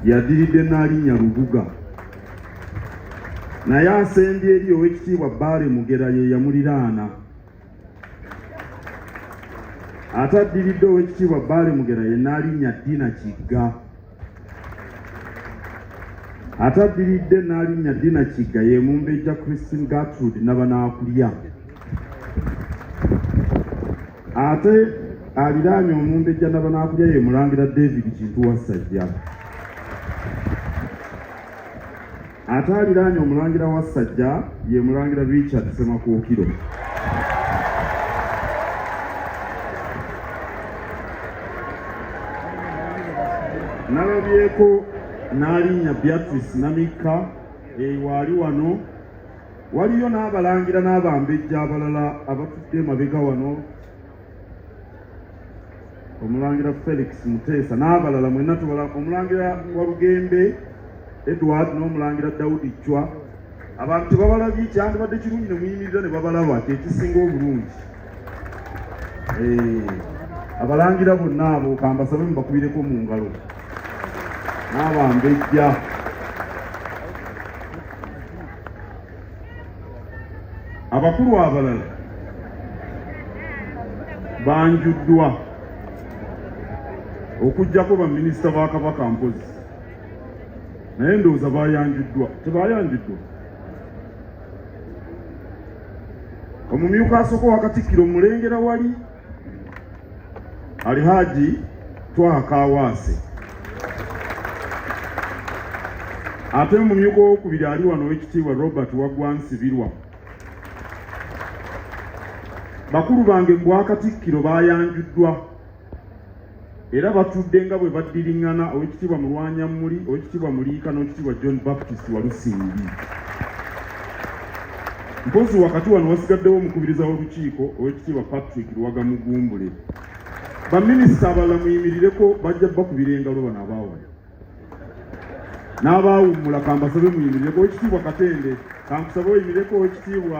yaddiridde Nnaalinnya Lubuga naye asembye eri ow'ekitiibwa Bbaale Mugera ye yamuliraana ate addiridde ow'ekitiibwa Bbaale Mugera ye Nnaalinnya Dina Kigga ate addiridde Nnaalinnya Dina Kigga ye Mumbejja Christine Gertrude Nabanaakulya ate aliraanye omumbejja nabanakulya ye mulangira david kintu wassajja ate aliraanye omulangira wassajja ye mulangira richard semakuukiro nalabyeko n'alinnya beatrice namikka ewaali wano Waliyo n'abalangira n'abambejja abalala abatudde emabega wano, Omulangira Felix Muteesa n'abalala mwenna tubala, Omulangira Walugembe Edward n'Omulangira Daudi Chwa. Abantu tebabalabye, kyandibadde kirungi ne muyimirira ne babalaba, kye kisinga obulungi. eh, abalangira bonna abo kambasabe mubakubireko mu ngalo n'abambejja abakulu abalala banjuddwa okujjako baminisita ba kabaka mpozi naye ndowooza bayanjuddwa tebayanjuddwa omumyuka asooka wa Katikkiro omulengera wali Alihaaji Twaha Kaawaase ate omumyuka owokubiri ali wano owekitiibwa Robert Waggwa Nsibirwa bakulu bange mu bwakatikkiro baayanjuddwa era batudde nga bwe baddiriŋŋana owekitiibwa mulwanyammuli owekitiibwa muliika n'owekitiibwa john baptist walusimbi mpozi wakati wano wasigaddewo omukubiriza w'olukiiko owekitiibwa patrick luwaga mugumbule baminisita abalala muyimirireko bajja bakubira engalo bano abaawaya n'abaawummula kambasabe muyimirireko owekitiibwa katende kankusabe oyimireko owekitiibwa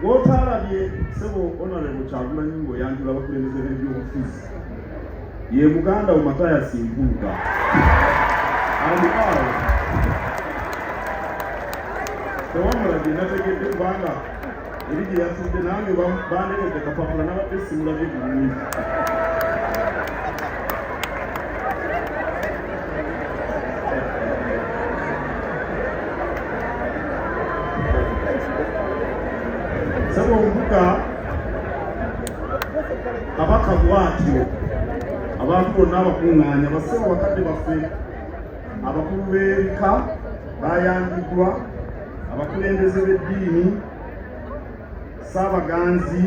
Gw'otaalabye ssebo Honorable Kyagulanyi ng'oyanjula abakulembeze b'ebyobufuzi ye muganda wo Mathias Mpuuga. And now, tewamulabye nategedde kubanga eri gye yatudde nange bandekedde kapapula nabadde simulabye bulungi. saba omubuga kabaka bwatyo abantu bonna abakuŋŋaanya basebo bakadde baffe abakulu b'ebika bayanjidwa abakulembeze b'eddiini Ssaabaganzi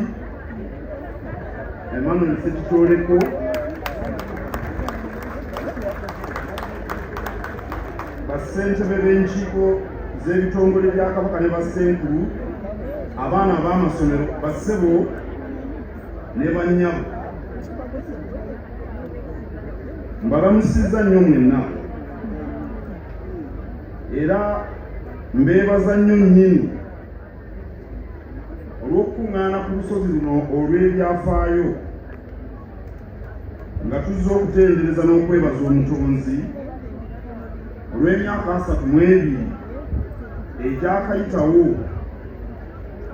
Emmanuel Ssekitooleko bassentebe b'enkiiko z'ebitongole bya Kabaka ne bassenkulu abaana ab'amasomero bassebo ne bannyabo mbalamusizza nnyo mwenna era mbeebaza nnyo nnyini olw'okukuŋŋaana ku lusozi luno olw'ebyafaayo nga tuzze okutendereza n'okwebaza omutonzi olw'emyaka asatu mu ebiri egyakayitawo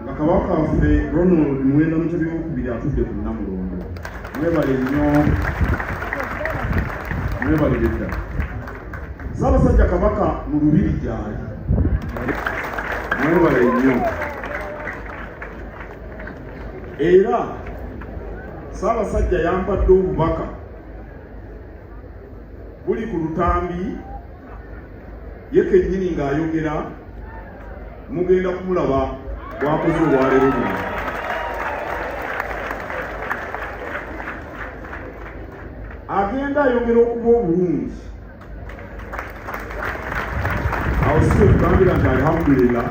nga kabaka waffe ronald muwenda mutebi wokubiri atudde ku namulondo mwebale nnyo mwebalire ddala Ssaabasajja Kabaka mu lubiri gyali. Mwebale nnyo. Era Ssaabasajja yampadde obubaka buli ku lutambi ye kennyini ng'ayogera mugenda kumulaba bwakoze olwaleero luno agenda ayongera okuba obulungi awo si ekugambira nti alhamdulillah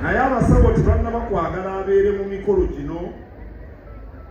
naye abasawo tebanna bakwagala abeere mu mikolo gino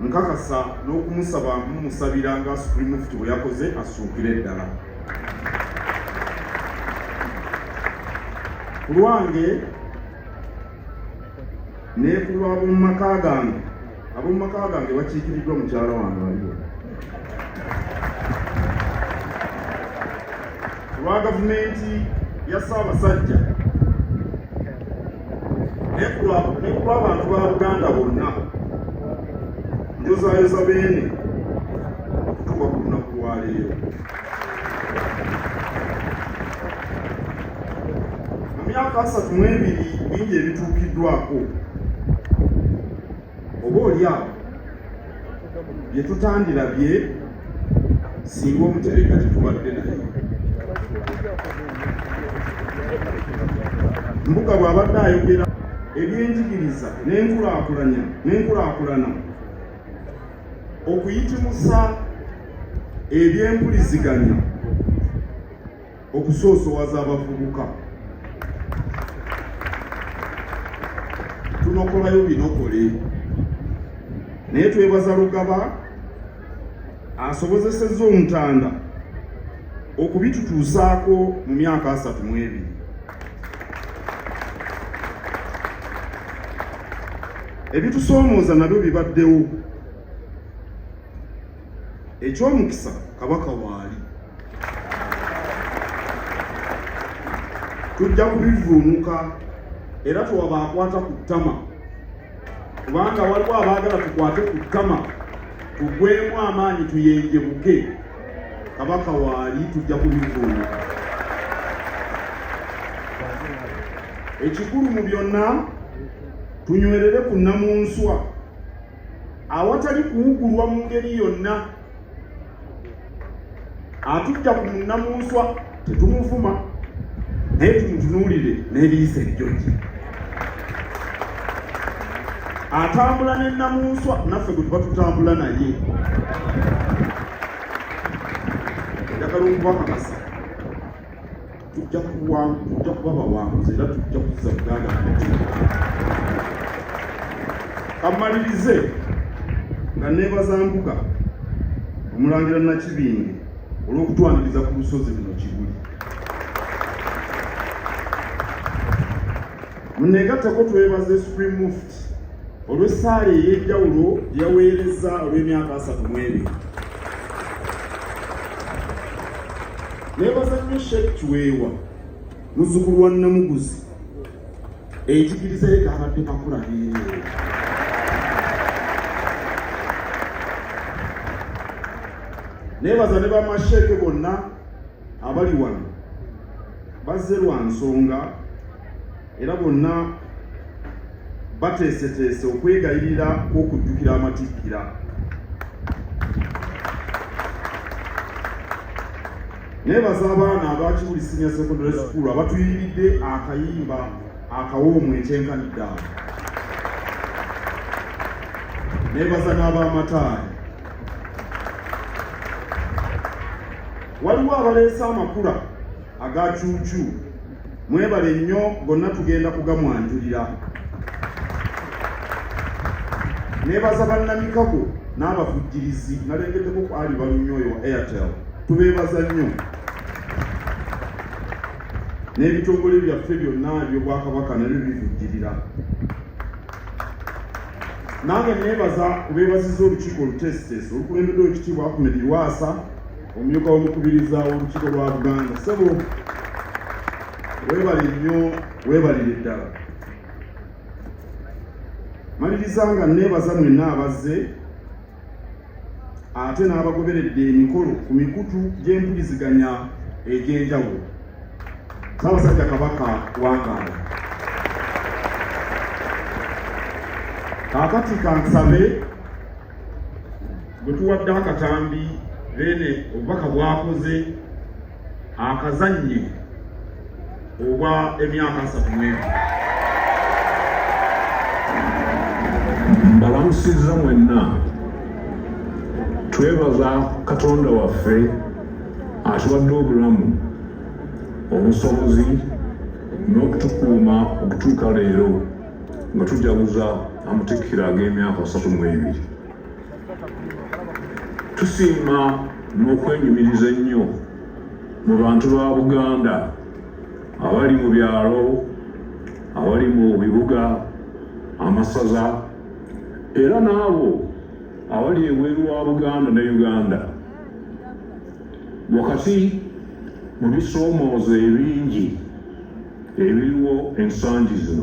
Nkakasa n'okumusaba mumusabira nga Supreme Mufti bwe yakoze asuukire ddala. Ku lwange ne ku lw'ab'omu maka gange, ab'omu maka gange bakiikiriddwa mukyala wange waliwo. Ku lwa gavumenti ya Ssaabasajja ne ku lw'abantu ba Buganda bonna njozaayoza beene okutuuka ku lunaku lwa leero. Mu myaka asatu mu ebiri bingi ebituukiddwako oba olyawo bye tutandirabye singa omutereka tetubadde naye mbuga bw'abadde ayogera ebyenjigiriza n'enkulakulanya n'enkulakulana okuyitimusa ebyempuliziganya okusoosowaza abavubuka tunokolayo binokole naye twebaza lugaba asobozeseza omutanda okubitutuusaako mu myaka asatu mu ebiri ebitusoomooza nabyo bibaddewo ekyomukisa kabaka waali tujja kubivuunuka era twabaakwata ku ttama kubanga waliwo abaagala tukwate ku ttama tugwemu amaanyi tuyenjebuke kabaka waali tujja kubivuunuka ekikulu mu byonna tunywerere ku nnamunswa awatali kuwugulwa mu ngeri yonna atujja ku munnamunswa tetumuvuma naye tumutunuulire n'ebiyisa ejjoji atambula ne namunswa naffe gwe tuba tutambula naye njagala okubakakasa tujja kuwa tujja kuba bawanguzi era tujja kuza buganda kamalirize nga nebaza mbuga omulangira nakibinge olw'okutwaniriza ku lusozi luno kibuli muneegattako twebaze supreme muft olw'essaala ey'enjawulo yaweereza olw'emyaka asatu mwebiri nebaza nnyo sheek kiweewa muzukulu wa namuguzi enjigiriza ye kabadde kakula neereere nebaza ne bamasheeke bonna abali wano bazze lwa nsonga era bonna bateeseteese okwegayirira kw'okujjukira amatikkira nebaza abaana abakibuli senior secondary school abatuyiridde akayimba akawoomu ekyenkanidde awo nebaza n'abamataali waliwo abaleese amakula aga cuucu mwebale nnyo gonna tugenda kugamwanjulira nebaza bannamikago n'abavujjirizi nalengeddeko ku ali balunyo oyo wa airtel tubeebaza nnyo n'ebitongole byaffe byonna ebyobwakabaka nabyo bivujjirira nange nebaza kubeebaziza olukiiko oluteesiteesi olukulembeddwa ekitiibwa ahmed lwasa omumyuka w'omukubiriza w'olukiiko lwa buganda ssebo webale nnyo webalire ddala maliriza nga neebaza mwenna abazze ate n'abagoberedde emikolo ku mikutu gy'empuliziganya egy'enjawulo saabasajja kabaka wangaala kakati kansabe gwe tuwadde akatambi beene obubaka bwakoze akazannyo obwa emyaka asatu mwemu mbalamusizza mwenna twebaza katonda waffe atuwadde obulamu obusobozi n'okutukuuma okutuuka leero nga tujaguza amatikkira ag'emyaka asatu mu ebiri tusiima n'okwenyumiriza ennyo mu bantu ba buganda abali mu byalo abali mu bibuga amasaza era n'abo abali ebweru wa buganda ne uganda wakati mu bisoomooza ebingi ebiriwo ensangi zino